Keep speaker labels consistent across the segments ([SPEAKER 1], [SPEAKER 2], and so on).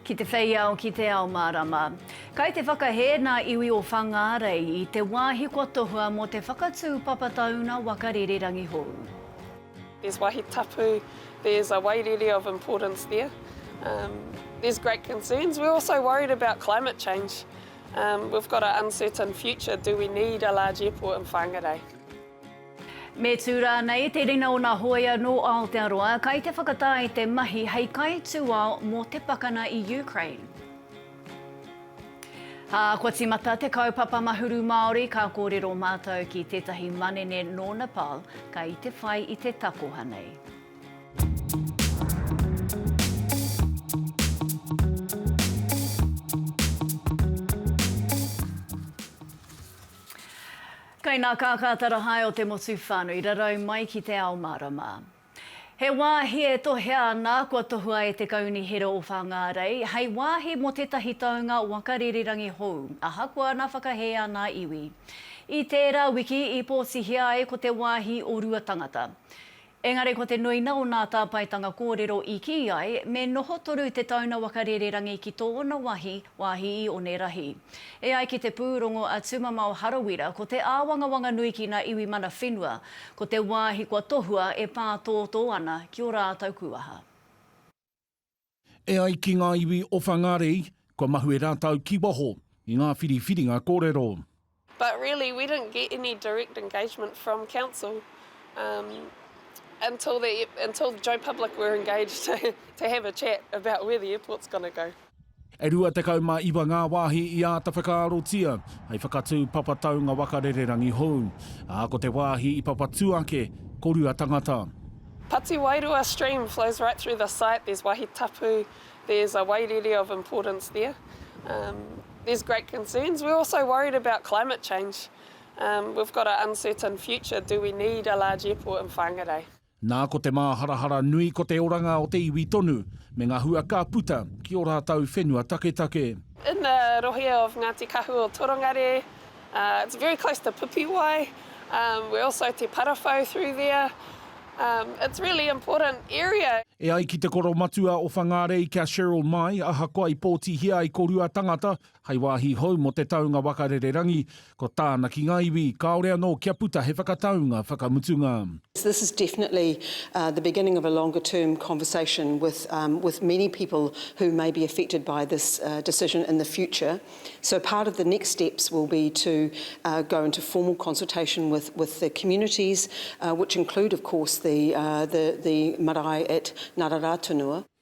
[SPEAKER 1] Ki te whei ao, ki te ao mārama. Kai te whakahē nā iwi o Whangārei i te wāhi kua tohua mō te whakatū papa tauna waka rere rangihou. There's
[SPEAKER 2] wahi tapu, there's a wairere of importance there. Um, there's great concerns. We're also worried about climate change. Um, we've got an uncertain future. Do we need a large airport in Whangarei?
[SPEAKER 1] Me tū rānei te rina o nā hōia nō Aotearoa kai te whakatā i te mahi hei kaitūao mō te pakana i Ukraine? Ā, kua tīmata te kaupapa Mahuru Māori, ka kōrero mātou ki tētahi manene nō Nepal kai te whai i te takoha nei. Kei nā Kākātara hae o te motu whānui rarau mai ki te ao mārama. He wāhi e tohea ana kua tohua e te Kaunihera o Whāngārei hei wāhi mō tētahi taunga waka rīrirangi hou, ahakoa nā whakahē ana iwi. I tērā wiki i pōtihia ai ko te wāhi o Ruatangata. Engari ko te nuina o nā tāpaetanga kōrero i kī ai, me noho toru te tauna waka rererangi ki tōna wahi, wāhi i Onerahi. E ai ki te pūrongo a Tumamao Harawira, ko te āwangawanga nui ki nā iwi mana whenua, ko te wāhi kua tohua e pātōtō ana ki o rātou kūaha.
[SPEAKER 3] E ai ki ngā iwi o Whangārei, kua mahue rātou ki waho i ngā whiriwhiringa kōrero. But really
[SPEAKER 2] we didn't get any direct engagement from council um until the until Joe Public were engaged to have a chat about where the airport's going to go. E rua tekau
[SPEAKER 3] mā iwa ngā wāhi i āta whakaarotia hei whakatū papa taunga waka rererangi hou, ā, ko te wāhi i papatū ake ko Ruatangata. Pati Wairua
[SPEAKER 2] stream flows right through the site, there's wahi tapu, there's a wairere of importance there. There's great concerns, we're also worried about climate change, we've got a uncertain future, do we need a large airport in Whangarei? Nā, ko te
[SPEAKER 3] māharahara nui ko te oranga o te iwi tonu, me ngā hua ka puta ki ō rātou whenua taketake. In the rohe
[SPEAKER 2] of Ngati Kahu or Torongare, it's very close to Pipiwai, we're also te Parawhau through there, it's really important area. E ai ki te
[SPEAKER 3] koromatua o Whangārei kia Cheryl Mai, ahakoa i pōtihia ai ko Ruatangata, Hei wāhi hou mō te taunga waka rererangi, ko tāna ki ngā iwi, kāore anō kia puta he whakataunga whakamutunga. This is definitely
[SPEAKER 4] the beginning of a longer term conversation with with many people who may be affected by this decision in the future. So part of the next steps will be to go into formal consultation with with the communities which include of course the the the marae at Ngararātunua.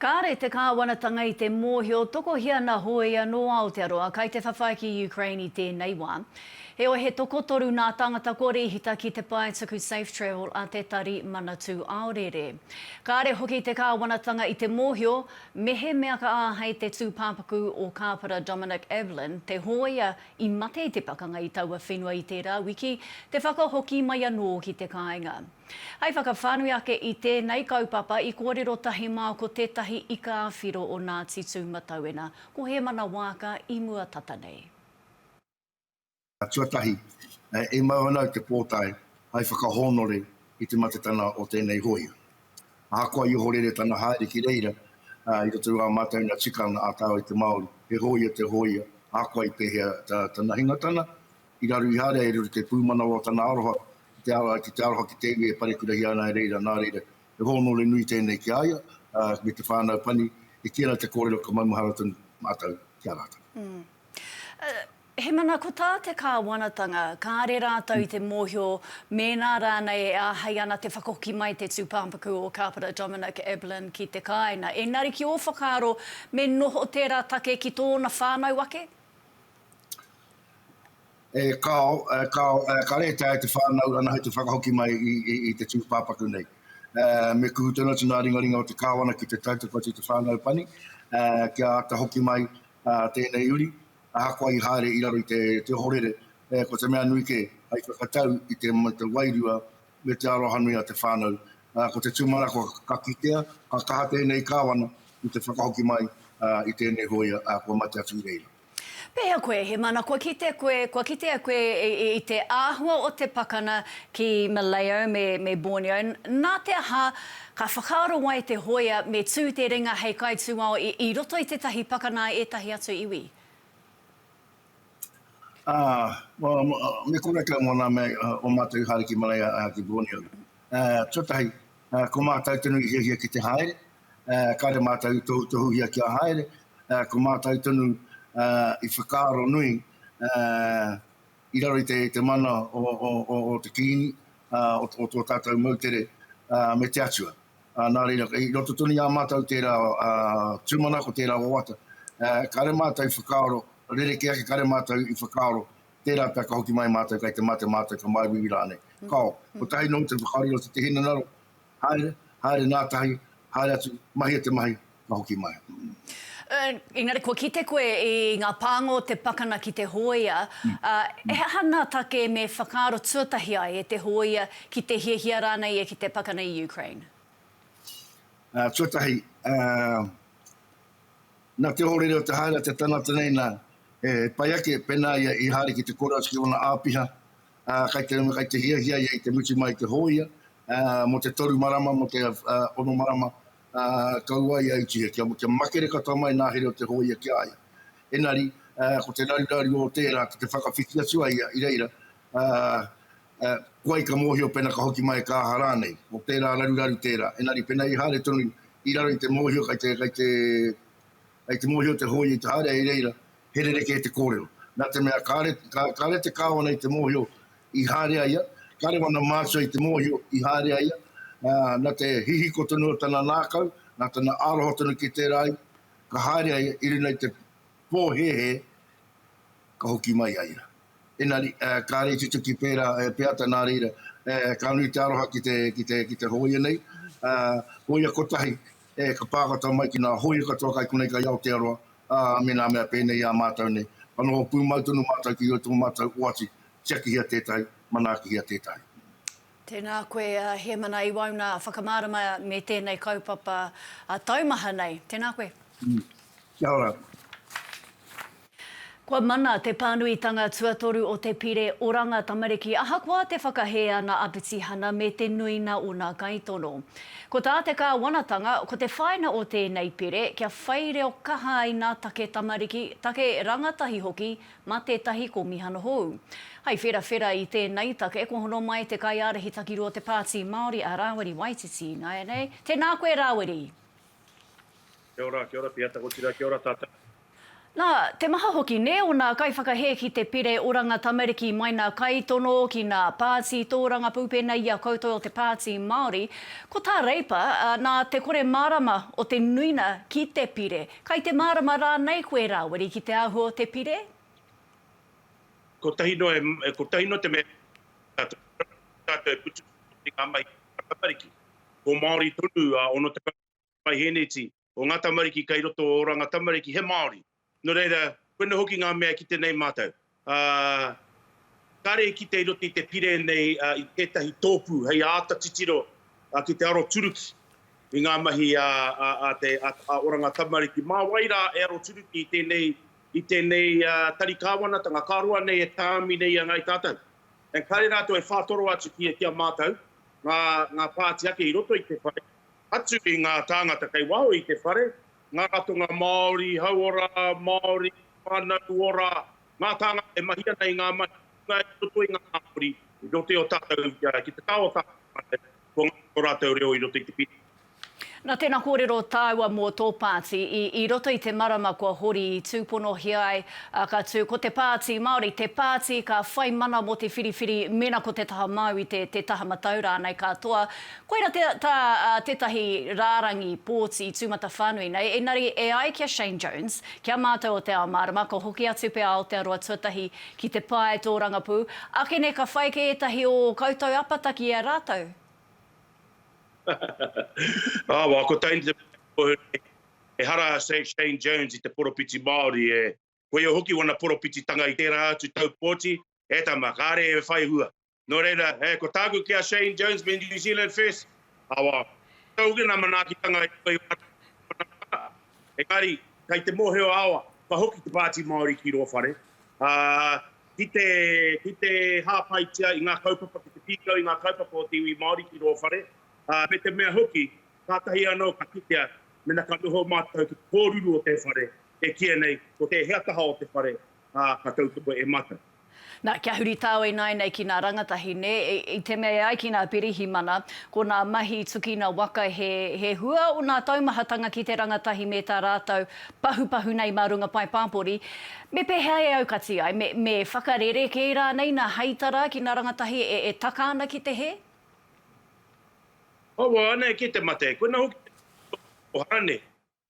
[SPEAKER 1] Kāre te Kāwanatanga i te mōhio tokohia na hōia nō Aotearoa kai te whawhai ki Ukraine i tēnei wā. Heoi he tokotoru nā tāngata kua rīhita ki te pae tuku Safe Travel a te Tari Manatū Aorere. Kāre hoki te Kāwanatanga i te mōhio mehemea ka āhei te tūpāpaku o Kāpara Dominic Evelyn te hōia i mate i te pakanga i taua whenua i tērā wiki te whakahoki mai anō ki te kāinga. Hei whakawhānui ake i tēnei kaupapa i kōrero tahi māu ko tētahi ika ā-whiro o Ngāti Tūmatauena, ko Hēmana Waaka i mua tata nei.
[SPEAKER 5] Tuatahi, e mau ana au te pōtae hai whakahōnore i te matetana o tēnei hōia. Ahakoa i ohorere tana haere ki reira i roto i ā mātou nā tikanga ā-tau i te Māori, he hōia te hōia ahakoa i pēhea tana hingatana, I raru i haere ai rere te pūmanawa o tana aroha ki te ara ai ki te aroha ki te iwi e parekurahia ana e reira, nā reira, he hōnore nui tēnei ki a ia me te whānau pani, e kī ana te kōrero ka maumahara tonu mātou ki a rātou. He
[SPEAKER 1] mana ko tā te kāwanatanga, kāre rātou i te mōhio mēnā rānei e āhei ana te whakahoki mai te tūpāpaku o Kāpara Dominic Eblin ki te kāinga. Engari ki ō whakaaro me noho tērā take ki tōna whānau ake? E kāo,
[SPEAKER 5] e kāo, e ka rēhita e te whānau ana hei te whakahoki mai i, i, i te tūpāpaku nei. E, me kuhu tonu atu ngā ringaringa o te kāwana ki te tautoko atu i te whānau pani, e, kia āta hoki mai a, tēnei uri, ahakoa i haere i raro i te, te ohorere, e, ko te mea nui kē, hei whakatau i te, te wairua me te arohanui a te whānau. A, ko te tūmanako ka kitea, ka kaha tēnei kāwana i te whakahoki mai a, i tēnei hōia a, kua mate atu i reira. Pēhea koe,
[SPEAKER 1] he mana kua kite koe, kua kitea koe i te āhua o te pakana ki Maleo me me Borneo, nā te aha, ka whakaaro ai te hōia me tū te ringa hei kaitūao i i roto i tētahi pakana a ētahi atu iwi?
[SPEAKER 5] Āe, me konei kau mō nā mea o mātou i haere ki Maleo, ki Borneo. Tuatahi, ko mātou tonu i hiahia ki te haere, Kāre mātou i tohutohuhia kia haere, ko mātou tonu i whakaaro nui i raro i te mana o te Kīngi, o tō tātou moutere me te Atua. Nā reira, i roto tonu i a mātou tērā tūmanako, tērā wawata, kāre mātou i whakaaro, rerekē ake kāre mātou i whakaaro, tērā pea ka hoki mai mātou kei te mate mātou, ka māuiui rānei. Kāo, kotahi noa te whakaaro i roto i te hinengaro, Haere, haere ngātahi, haere atu, mahia te mahi, ka hoki mai. Ern,
[SPEAKER 1] engari kua kite koe i ngā pānga o te pakana ki te hōia, ā, he aha ngā take me whakaaro tuatahi ai e te hōia ki te hiahia rānei ia ki te pakana i Ukraine? Ā, tuatahi,
[SPEAKER 5] ā, nā te ohorere o te haere a te tangata nei, nā, he pai ake pēnā ia i haere ki te kōrero atu ki ōna āpiha, ā, kai te, kai te hiahia ia i te mutu mai i te hōia, ā, mō te toru marama, mō te ā, ono marama, ā, kau ai a Ituhia kia, kia makere katoa mai nā here o te hōia ki a ia. Enari, ā, ko te raruraru o tērā ki te whakawhiti atu a ia i reira, ā, ā, koai ka mōhio pena ka hoki mai ka aha rānei, ko tērā raruraru tērā. Enari, pena i haere tonu i raro i te mōhio kai te, kai te, Kei te mōhio te hōia i te haere i reira he rerekē te kōrero. Nā te mea kāre, kāre te Kāwana i te mōhio i haere a ia, kāre wana mātua i te mōhio i haere a ia, ā, nā te hihiko tonu o tana nākau, nā tana āroha tonu ki tērā ai, ka haere a ia i runga i te pōhēhē ka hoki mai a ia. Engari, ā, kāre i tutuki pērā e Peata nā reira, ā, ka nui te aroha ki te, ki te, ki te hōia nei, ā, hōia kotahi, E ka pākata mai ki nā hōia katoa kai konei kai Aotearoa, ā, me nā mea pēnei i a mātou nei. Ka noho pūmau tonu mātou ki roto o mātou oati, tiakihia tētahi, manaakihia tētahi. Tēnā
[SPEAKER 1] koe a Hemana i wauna whakamārama me tēnei kaupapa taumaha nei. Tēnā koe. Kia ora. Kua mana te pānuitanga tuatoru o te Pire Oranga Tamariki ahakoa te whakahē ana a Petihana me te nuinga o nā kaitono. Ko tā te Kāwanatanga, ko te whāina o tēnei pire kia whai reo kaha ai nā take tamariki, take rangatahi hoki mā tētahi kōmihana hou. Hai wherawhera i tēnei take kua hono mai te Kaiārahi Takiru o te Pāti Māori a Rāwiri Waititi. Nāianei, tēnā koe Rāwiri!
[SPEAKER 6] Kia ora, kia ora te atakotira, kia ora tatou. Na,
[SPEAKER 1] te maha hoki ne ona kaiwhakahe ki te pire oranga tamariki mai na Kaitono ki na Paati Toorangapu pena i a koutou o te Paati Maori, ko ta Reipa, na te kore marama o te nuina ki te pire, kai te marama ranei koe Rawiri ki te ahua o te pire?
[SPEAKER 6] Kotahi noa, kotahi noa te mea kia tatou putu ki nga mahi a tamariki. Ko Maori tonu a ono tekau paihēneti, o ngā tamariki kei roto o Oranga Tamariki, he Māori. Nō reira, koina hoki ngā mea e kite nei mātou. Ā, kāre i kite i roto i te pire nei i tētahi tōpū hei āta titiro ki te aroturuki i ngā mahi a Oranga Tamariki. Mā wai rā e aroturuki i tēnei, i tēnei tari kāwanatanga, ka roa nei e tāmi nei i a Ngāi Tātau. Engari rātou e whātoro atu ki a mātou, ngā, ngā pāti ake i roto i te whare, Atu i ngā tāngata kei waho i te whare, ngā ratonga Māori, hauora, Māori, whānau ora, ngā tāngata e mahi ana i ngā mahi kūpuna i roto i ngā hapori i roto i o tātou ki te taha o tātou whānau, kua ngaro tō rātou reo i roto i te pire. Nā
[SPEAKER 1] tēnā kōrero tāua mō tō pāti, i i roto i te marama kua hori i tūponohia ai, ā, ka tū, ko te Pāti Māori, te pāti ka whai mana mō te whiriwhiri mēnā ko te taha māu i te, te taha matau rānei, ka toa, Koira te ta tetahi rarangi pōti tūmatawhānui nei, enari e ai ki a Shane Jones, ki a mātou o Te Ao Mārama, ka hoki atu pea Aotearoa tuatahi ki te pae tōrangapū, ake nei ka whai kē ētahi o ō koutou apataki i a rātou.
[SPEAKER 6] Awa, ko taini te mea ka tohu nei, ehara a Shane Jones i te poropiti Māori e, koia hoki wana poropititanga i tērā atu tau pōti, e tama, kāre e whai hua, Nō reira, he, ko tāku ki a Shane Jones me New Zealand First, awa, tau hoki ngā manaakitanga i roto i ō rātou kaupapa. Engari, kei te mōhio a awa, ka hoki te Pāti Māori ki rō whare, ā, ki te, ki te hāpaitia i ngā kaupapa, ki te pīkau i ngā kaupapa o te iwi Māori ki rō whare, ā, me te mea hoki, kātahi anō ka kitea, mena ka noho mātou ki te kōruru o te whare, e kīia nei, ko tēhea taha o te whare, ā, ka tautoko e Mata. Na, kia huri
[SPEAKER 1] tāo ināinei ki nā rangatahi, nē, i te mea e ai ki nā Pirihimana, ko nā mahi tukina waka he, he hua o nā taumahatanga ki te rangatahi me tā rātou pahupahu nei mā runga pae pāpori, me pēhea e aukati ai, me, me whakarerekē rānei nā heitara ki nā rangatahi e, e taka ana ki te hē?
[SPEAKER 6] Awa, anei kē te mate, koina hoki te hua o te pōhara nē,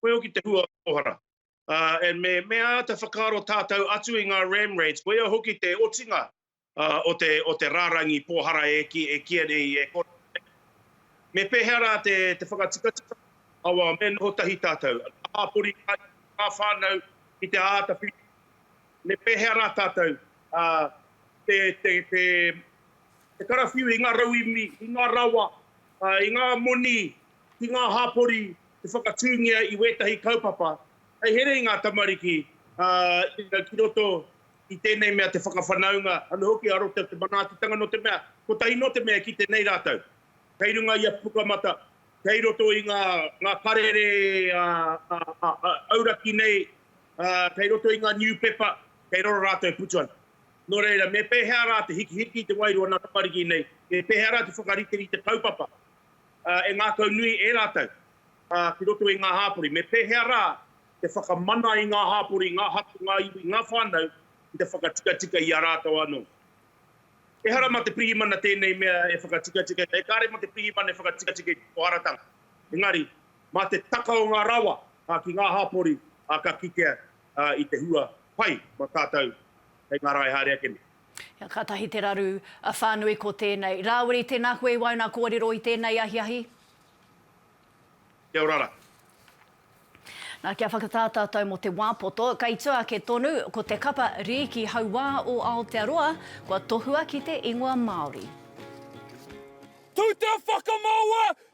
[SPEAKER 6] koe hoki te hua o te pōhara. and me, me āta whakaaro tātou atu i ngā ram raids, koia hoki te otinga o te, o te rārangi pōhara e ki, e kīia nei, e kōrero nei. Me pēhea rā te, te whakatikatika, awa, me noho tahi tātou, ngā hāpori, ngā iwi, ngā whānau, ki te āta whiri, me pēhea rā tātou, te, te, te, te karawhiu i ngā rauīmi, i ngā rawa, i ngā moni, ki ngā hāpori, te whakatūngia i wētahi kaupapa hei here i ngā tamariki ki roto i tēnei mea te whakawhanaunga anō hoki a roto te manaakitanga nō te mea kotahi nō te mea e kite nei rātou kei runga i a Pukamata kei roto i ngā karere auraki nei kei roto i ngā niupepa kei raro rātou e putu ana. Nō reira, me pēhea rā te hikihiki i te wairua o nā tamariki nei, me pēhea rā te whakariterite kaupapa e ngākau nui e rātou ki roto i ngā hāpori, me pēhea rā te whakamana i ngā hāpori, ngā hapū, ngā iwi, ngā whānau ki te whakatikatika i a rātou anō. Ehara mā te pirihimana tēnei mea e whakatikatika, e kāre mā te pirihimana e whakatikatika i te poharatanga, engari, mā te taka o ngā rawa ki ngā hāpori ka kitea i te hua pai mā tātou hei ngā rae haere ake nei. Ia, katahi te
[SPEAKER 1] raru whānui ko tēnei. Rāwiri, tēnā koe i waenga kōrero i tēnei ahiahi.
[SPEAKER 6] Kia ora ra.
[SPEAKER 1] Nā, kia whakatā tātou mō te wā poto, kei tua ake tonu, ko te kapa Rīki hauā o Aotearoa, kua tohua ki te ingoa Māori.
[SPEAKER 7] Tū te whakamaua,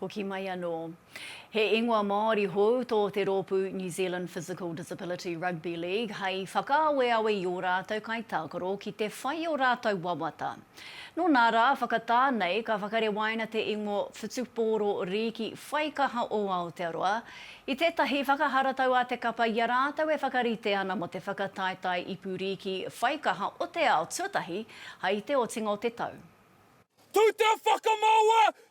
[SPEAKER 1] Hoki mai anō. He ingoa Māori hou tō te rōpū New Zealand Physical Disability Rugby League hai whakaaweawe i ō rātou kaitākaro ki te whai o rātou wawata. Nō nā rā, whakatā nei ka whakarewaina te ingoa Whutupōro Rīki Whaikaha o Aotearoa i tētahi whakaharatau a te kapa i a rātou e whakarite ana mō te whakataetae ipu rīki whaikaha o te ao tuatahi hai te otinga o te tau. Tū
[SPEAKER 7] te whakamaua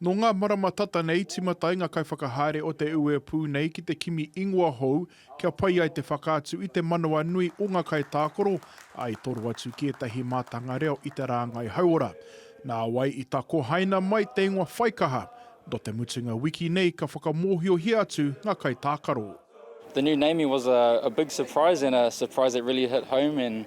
[SPEAKER 8] Nō ngā
[SPEAKER 9] marama tata nei tīmata ai ngā kaiwhakahaere o te uepū nei ki te kimi ingoa hou kia pai ai te whakaatu i te manawa nui o ngā kaitākaro, ā, i toro atu ki ētahi mātanga reo i te rāngai hauora. Nāwai i takohaina mai te ingoa whaikaha, nō te mutunga wiki nei ka whakamōhiohia atu ngā kaitākaro. The new naming
[SPEAKER 10] was a big surprise and a surprise that really hit home and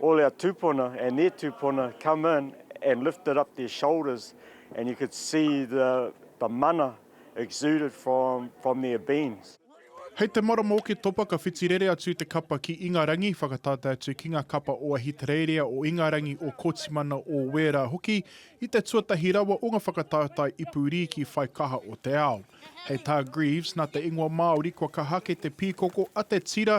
[SPEAKER 8] all our tupuna and their tupuna come in and lifted up their shoulders and you could see the the mana exuded from from their beings. Hei te marama
[SPEAKER 9] o ke topa ka whiti rere atu te kapa ki Ingarangi, whakatātai atu ki ngā kapa o Ahitereiria, o Ingarangi, o Kotimana, o Wēra hoki, i te tuatahi rawa o ngā whakatātai ipu rīki whai kaha o te ao. Hei tā Greaves, nā te ingoa Māori kua kaha ake te pīkoko a te tira,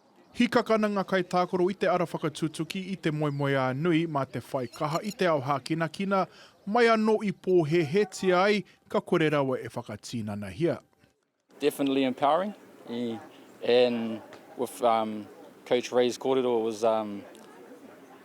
[SPEAKER 8] Hika ka
[SPEAKER 9] nanga kai tākaro i te ara whakatutuki i te moemoeā nui mā te whai kaha i te ao hākinakina mai anō i pōhēhētia ai ka kore rawa e whakatīnanahia. Definitely
[SPEAKER 10] empowering and with coach Ray's korero it was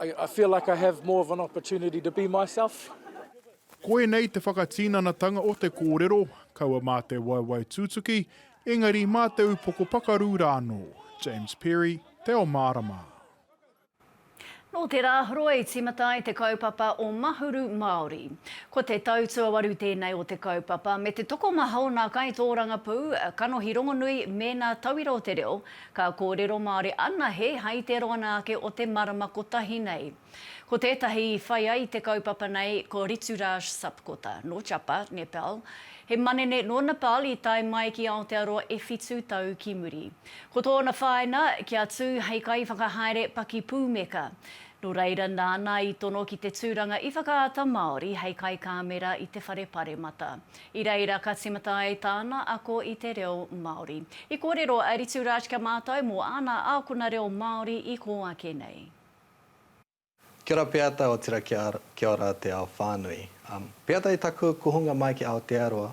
[SPEAKER 11] I feel like I have more of an opportunity to be myself. Koinei
[SPEAKER 9] te whakatinanatanga o te kōrero, kaua mā te waewae tūtuki, engari mā te upoko pakaru rā anō. James Perry, Te Ao Mārama.
[SPEAKER 1] Nō te rā horoa i tīmata ai te kaupapa o Mahuru Māori. Ko te tau tuawaru tēnei o te kaupapa me te tokomaha o nā kaitōrangapū, kanohi rongonui mēnā tauira o te reo, Ka kōrero Māori anahe hai te roanga ake o te marama kotahi nei. Ko tētahi i whai ai te kaupapa nei ko Rituraj Sapkota, nō Chapa, Nepal. He manene nō Nepal i tae mai ki Aotearoa e whitu tau ki muri. Ko tōna whāina, kia tū hei kaiwhakahaere pakipūmeka. Nō reira nāna i tono ki te tūranga i Whakaata Māori hei kaikāmera i te whare paremata. I reira ka tīmata ai tāna ako i te reo Māori. I kōrero a Rituraj kia mātau mō āna ākona reo Māori i kō ake nei.
[SPEAKER 12] Kia ora Peata otira kia ora te ao whānui. Peata i taku kuhunga mai ki Aotearoa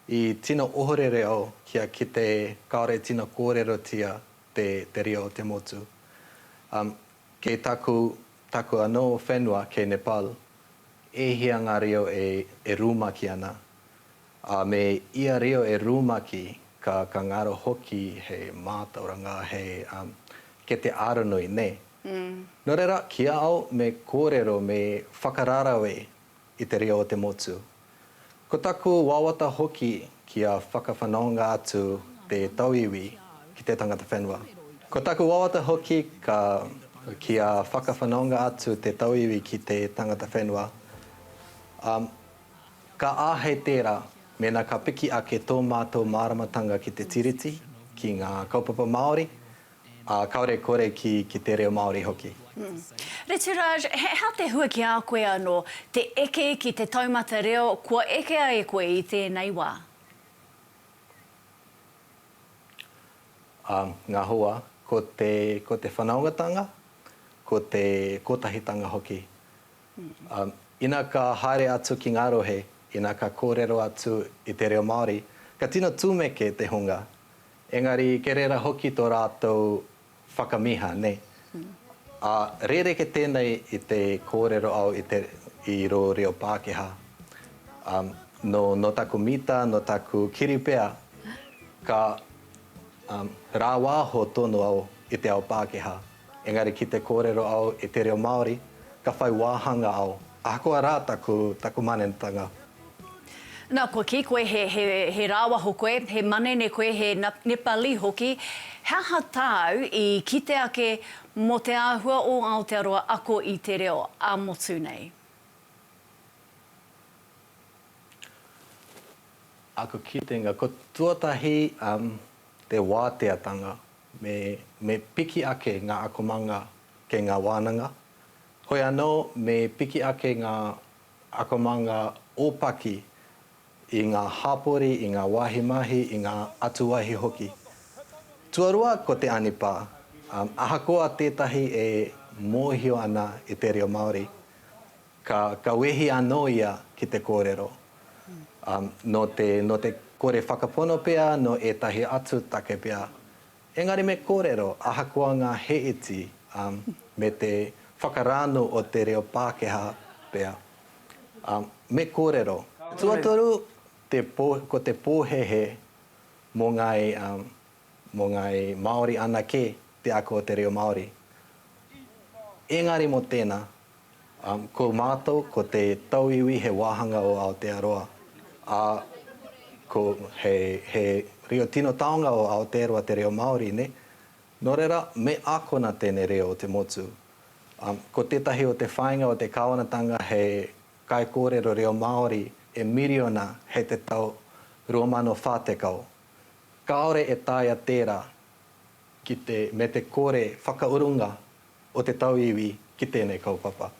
[SPEAKER 12] i tino ohorere au kia kite kaore e tino kōrerotia te reo o te motu. Kei taku Taku anō whenua kei Nepal, e hia ngā reo e rumaki ana, ā, me ia reo e rumaki ka ka ngaro hoki he mātauranga, he, ā, kete aronui, nē. Nō reira, ki a au me kōrero, me whakararawe i te reo o te motu, Ko taku wawata hoki kia whakawhanaunga atu te tauiwi ki te tangata whenua. Ko taku wawata hoki ka kia whakawhanaunga atu te tauiwi ki te tangata whenua. Um, ka āhei tērā mēnā ka piki ake tō mātou māramatanga ki te Tiriti, ki ngā kaupapa Māori, Ā, kāore kore ki, ki te reo Māori hoki. Retouraj,
[SPEAKER 1] he aha te hua ki a koe anō te eke ki te taumata reo kua ekea e koe i tēnei wā?
[SPEAKER 12] Ā, ngā hua, ko te, ko te whanaungatanga, ko te kotahitanga hoki. Ā, ina ka haere atu ki ngā rohe, ina ka kōrero atu i te reo Māori, ka tino tūmeke te hunga, Engari kei reira hoki tō rātou whakamiha, nei. Ā, rēreke tēnei i te kōrero au i te, i rō reo Pākehā. Ā, nō, nō taku mita, nō taku kiri pea, ka, ā, rāwāho tonu au i te ao Pākehā. Engari ki te kōrero au i te reo Māori, ka whai wāhanga au, ahakoa rā taku, taku manenetanga.
[SPEAKER 1] Nā, kua kī koe he, he, he rāwaho koe, he manene koe, he Nepali hoki, he aha tāu i kite ake mō te āhua o Aotearoa ako i te reo ā-motu nei?
[SPEAKER 12] Aku kitenga, ko tuatahi, um, te wāteatanga. Me piki ake ngā akomanga kei ngā wānanga, hoi anō me piki ake ngā akomanga ōpaki i ngā hāpori, i ngā wāhi mahi, i ngā atuwāhi hoki. Tuarua ko te anipā, ahakoa tētahi e mōhio ana i te reo Māori, Ka wehi anō ia ki te kōrero, nō te kore whakapono pea, nō ētahi atu take pea. Engari me kōrero, ahakoa ngā he iti, me te whakarāno o te reo Pākehā pea. Me kōrero. Tuatoru, ko te pōhehe mō ngāi Māori anake te ako o te reo Māori. Engari mō tēnā, Ko mātou, ko te tauiwi he wāhanga o Aotearoa, ā, ko he, he reo tino taonga o Aotearoa te reo Māori, nē? Nō reira, me ākona tēnei reo o te motu. Ko tētahi o te whāinga o te Kāwanatanga he kaikōrero reo Māori e miriona hei te tau 2040. Kāore e taea tērā ki te, me te kore whakaurunga o te tauiwi ki tēnei kaupapa.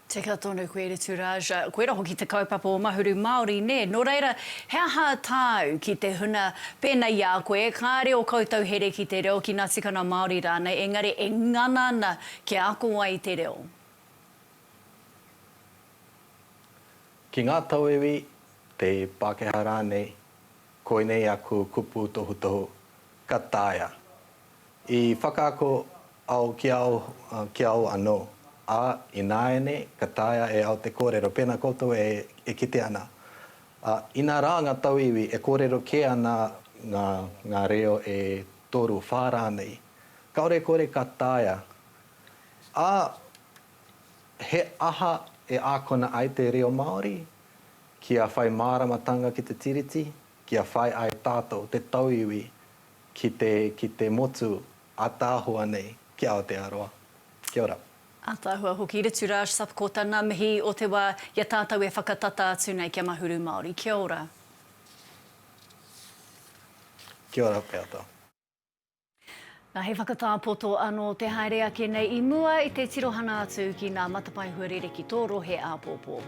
[SPEAKER 12] Tika
[SPEAKER 1] tonu koe Ritu Raja. Koira hoki te kaupapa o Mahuru Māori, nē? Nō reira, he aha tāu ki te huna pēnei i a koe, kāre o koutou here ki te reo, ki ngā tikanga Māori rānei, engari e ngana ana kia ako ai i te reo?
[SPEAKER 12] Ki ngā tauiwi, te Pākehā rānei, koinei aku kupu tohutohu, ka taea. I whakaako ao ki ao, ki ao anō, ā, ināiane ka taea e ao te kōrero pēnā koutou e kite ana. Ā, inā rā ngā tauiwi e kōrero kē ana ngā, ngā reo e toru, whā rānei, kāore e kore ka taea, ā, he aha e ākona ai te reo Māori kia whai māramatanga ki te Tiriti, kia whai ai tātou te tauiwi Ki te, ki te motu ataahua nei ki Aotearoa. Kia ora. Ataahua hoki
[SPEAKER 1] Rituraj Sapkota nga mihi o te wa i a tatou e whakatata atu nei kia Mahuru Maori. Kia ora.
[SPEAKER 12] Kia ora Peata.
[SPEAKER 1] Na he whakatapoto ano te haere ake nei i mua i te tirohana atu ki nga matapae huarere ki to rohe apopo.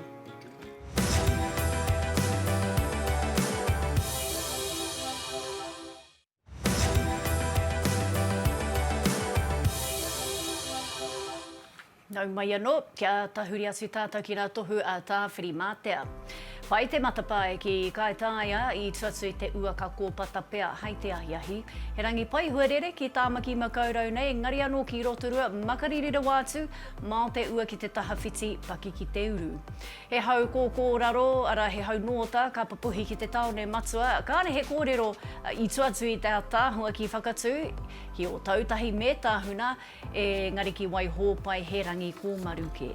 [SPEAKER 1] Nau mai anō, kia tahuri atu tātou ki ngā tohu a Tāwhirimātea. Whai te matapae ki Kaitaia i tu atu i te uaka kōpata pea hai te ahiahi. He rangi pai huarere ki Tāmaki Makaurau nei, engari anō ki Rotorua, Makariri rawa atu, Mā te ua ki te tahawhiti, paki ki te uru. He hau kōkō raro, arā he hau nōta, ka papuhi ki te tāone matua, kāre he kōrero i tua atu i te ataahua ki Whakatū, ki Ōtautahi me Tahuna, ēngari ki Waihōpai he rangi kōmaru kē.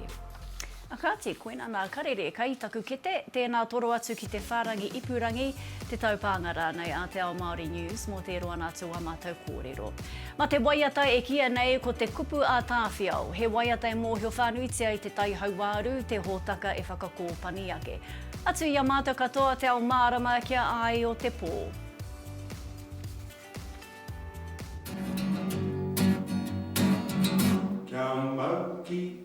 [SPEAKER 1] A kāti, koina nā karere kai taku kete, tēnā toro atu ki te whārangi ipurangi, te taupānga rānei a Te Ao Māori News mō te roa nā tō ā mātou kōrero. Ma te waiata e kīia nei ko te kupu a Tāwhiao, he waiata e mōhio whānuitia i te tai hauāru, te hōtaka e whakakōpani ake. Atu i a mātou katoa te ao mārama kia ai o te pō.
[SPEAKER 7] Kia mau ki